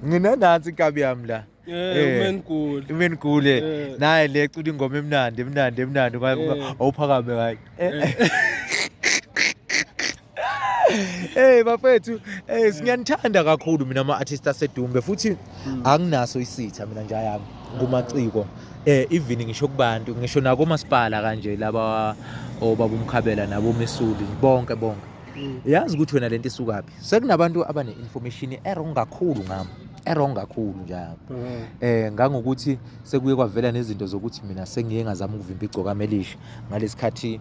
nginenansi inkabi yami la umenigule umenigule naye le cula ingoma emnandi emnandi emnandi awuphakame kayi Hey bafethu, eh siyanithanda kakhulu mina ama artists asedumbe futhi hmm. anginaso isitha mina nja yami kumaciko. Eh even ngisho kubantu, ngisho nako masipala kanje laba obabumkhabela nabo mesuli bonke bonke. Hmm. Yazi ukuthi wena lento isukaphi? sekunabantu abane-information erong kakhulu ngami erong kakhulu njalo mm. eh ngangokuthi sekuye kwavela nezinto zokuthi mina sengiye ngazama ukuvimba igcokama elisha ngalesikhathi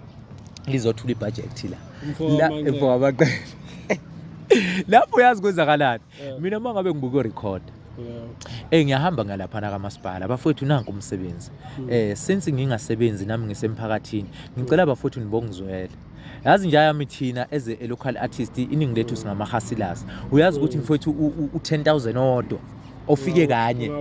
lizothula ibhajethi la mfo wamaqele lapho uyazi kwenzakalani mina uma ngabe ngibuka urecord Eh ngiyahamba ngalaphana kamasipala bafowethu nanku umsebenzi. Hmm. Eh since ngingasebenzi nami ngisemphakathini ngicela bafowethu nibongizwele. yazi nje yami thina as a local artist iningi lethu singamahasilas uyazi ukuthi mm. mfowethu u-10000 odwa ofike kanye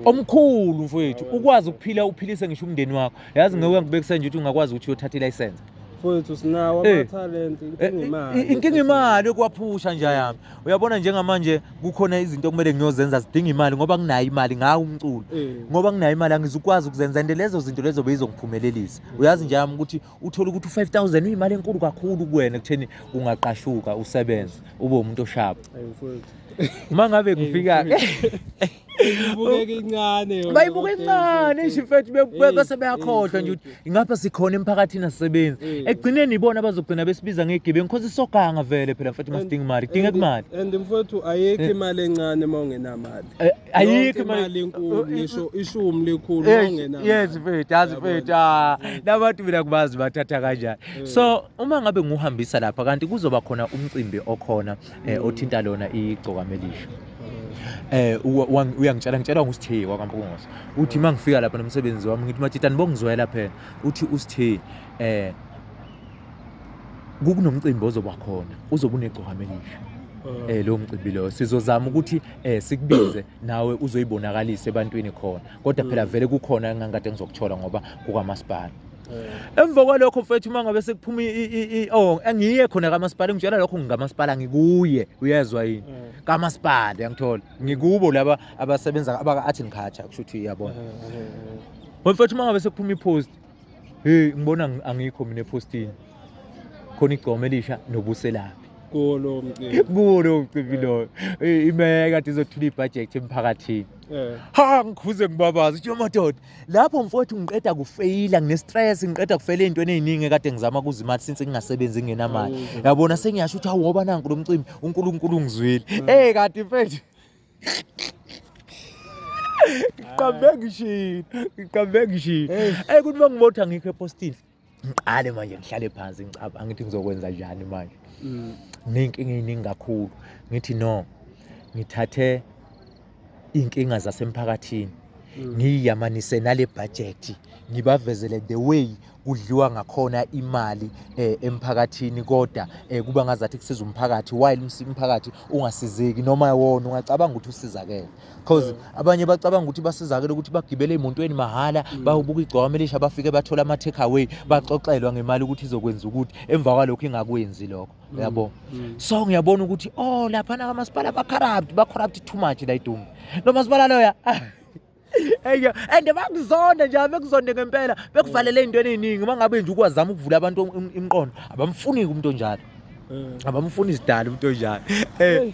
omkhulu mfowethu ukwazi ukuphila uphilise ngisho umndeni wakho yazi mm. ngeke ngibekise nje ukuthi ungakwazi ukuthi uyothatha ilayisense mfowethu sinawo eh. amathalente eh, inkinga eh, imali inkinga imali yokuwaphusha nje yami uyabona njengamanje kukhona izinto okumele ngiyozenza zidinga imali ngoba nginayo imali ngawo umculo ngoba nginayo imali angizukwazi ukuzenza and lezo zinto lezo beyizongiphumelelisa uyazi nje yami ukuthi uthole ukuthi u-5000 uyimali enkulu kakhulu kuwena ekutheni ungaqashuka usebenze ube umuntu oshaba uma ngabe ngifika bayibuka incane nje mfethu bese beyakhohlwa nje ukuthi ingapha sikhona emphakathini asebenzi ekugcineni ibona abazogcina besibiza ngegibe ngikhoza isoganga vele phela mfethu masidinga imali kudingeka imali and mfethu ayikho eh. imali encane uma ungenamali eh, ayikho imali enkulu ngisho ishumi likhulu ongena yes mfethu yazi mfethu ah nabantu mina kubazi bathatha kanjani eh. so uma ngabe nguhambisa lapha kanti kuzoba khona umcimbi okhona eh, mm. othinta lona igcokamelisha eh uyangitshela ngitshela ngusithiye kwakampungosa uthi mangifika lapha nomsebenzi wami ngithi matshitani bongizwela phela uthi usithiye eh kukunomcimbi ozoba khona uzobe unegcokama elihle um eh, lowo mcimbi loyo sizozama ukuthi um sikubize nawe uzoyibonakalisa ebantwini khona kodwa phela mm. vele kukhona engangikade ngizokuthola ngoba kukamasipala eh. emva kwalokho mfethu uma ngabe sekuphuma o oh, angiye khona kamasipala ngitshela lokho ngingamaspala ngikuye uyezwa yini eh. kamasipala yangithola ngikubo laba abasebenza abaka-art and culture kusho ukuthi iyabona mfethu uma ngabe sekuphuma ipost hey ngibona angikho mina ephostini khona igcoma elisha nobuselaphi kuwo lowo mcimbi kuwo lowo mcimbi loyo imeya kade izothula ibhajethi emphakathini eh. ha ngikhuze ngibabaza uthi madoda lapho mfowethu ngiqeda kufeyila ngine-stress ngiqeda kufela ey'ntweni ey'ningi kade ngizama kuza imali since ngingasebenzi ngingenamali yabona sengiyasho ukuthi awoba nanku lo mcimbi unkulunkulu ungizwile eh. eyi kade mfethu ngiqambe ngishini ngiqambe ngishini eyi kuthi uma ngibotha ngikho epostini ngiqale manje ngihlale phansi ngicaba angithi ngizokwenza njani manje mm. ney'nkinga ey'ningi kakhulu ngithi no ngithathe iy'nkinga zasemphakathini mm. ngiyamanise nale bhajethi ngibavezele the way kudliwa ngakhona imali eh, emphakathini kodwa eh, kuba ngazathi kusiza umphakathi while umphakathi ungasizeki noma wona ungacabanga ukuthi usizakele because yeah. abanye bacabanga ukuthi basizakele ukuthi bagibele emotweni mahhala mm. bayobuka igcwama elisha bafike bathola ama take away baxoxelwa ngemali ukuthi izokwenza ukuthi emva kwalokho ingakwenzi lokho mm. yabo mm. so ngiyabona ukuthi oh lapha na kamasipala ba corrupt ba corrupt too much la idumbu lo masipala loya Eyo and bakuzonda nje bekuzonde ngempela bekuvalele ezintweni eziningi uma ngabe nje ukwazama ukuvula abantu imiqondo abamfuni umuntu onjalo eh. abamfuni isidala umuntu onjalo eh